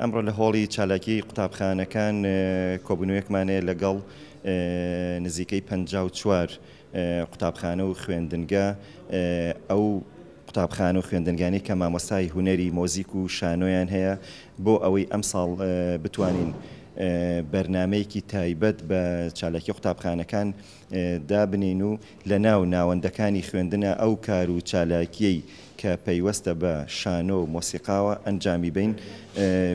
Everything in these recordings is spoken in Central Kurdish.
ئەمڕۆ لە هۆڵی چالاکی قوتابخانەکان کۆبوونەوەیەکمان هەیە لەگەڵ نزیکەی پەنجا و چوار قوتابخانە و خوێندنگە ئەو قوتابخانە و خوێندنگانی کە مامۆستای هوەری مۆزیک و شانۆیان هەیە بۆ ئەوەی ئەم ساڵ بتوانین بەرنمەیەکی تایبەت بە چالاکی قوتابخانەکان دابنین و لە ناو ناوەندەکانی خوێندنا ئەو کار و چالاکییەی کە پەیوەستە بە شانۆ و مۆسیقاوە ئەنجامی بەین،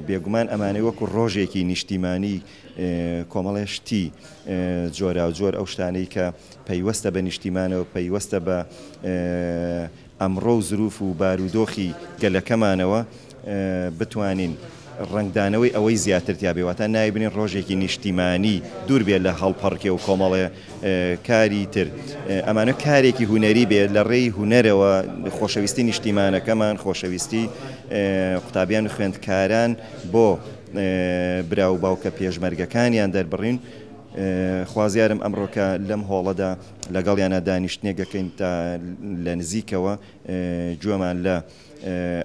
بێگومان ئەمانەی وەکوو ڕۆژێکی نیشتیمانی کۆمەڵێ شتی جۆراوجۆر ئەو شتانەی کە پەیوەستە بە نیشتیمانەوە، پەیوەستە بە ئەمڕۆ و زروف و بارودۆخی گەلەکەمانەوە بتوانین ڕەنگدانەوەی ئەوەی زیاتر تیابێ واتا نایبنین ڕۆژێکی نیشتیمانی دوور بێ لە هەڵپەڕکێ و کۆمەڵێ کاری تر ئەمانە کارێکی هونەری بێ لە ڕێی هونەرەوە خۆشەویستی نیشتیمانەکەمان خۆشەویستی قوتابیان و خوێندکاران بۆ برا و باوکە پێشمەرگەکانیان دەربڕین خوازیارم ئەمڕۆکە لەم هۆڵەدا لەگەڵیانا دانیشتنێک دەکەین تا لە نزیکەوە گوێمان لە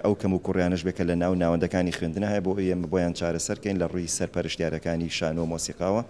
ئەو کەموکوڕیانەش بێت کە لە ناو ناوەندەکانی خوێندنە هەیە بۆ ئەوەی ئێمە بۆیان چارەسەر بکەین لە ڕووی سەرپەرشتیارەکانی شانۆ و مۆسیقاوە.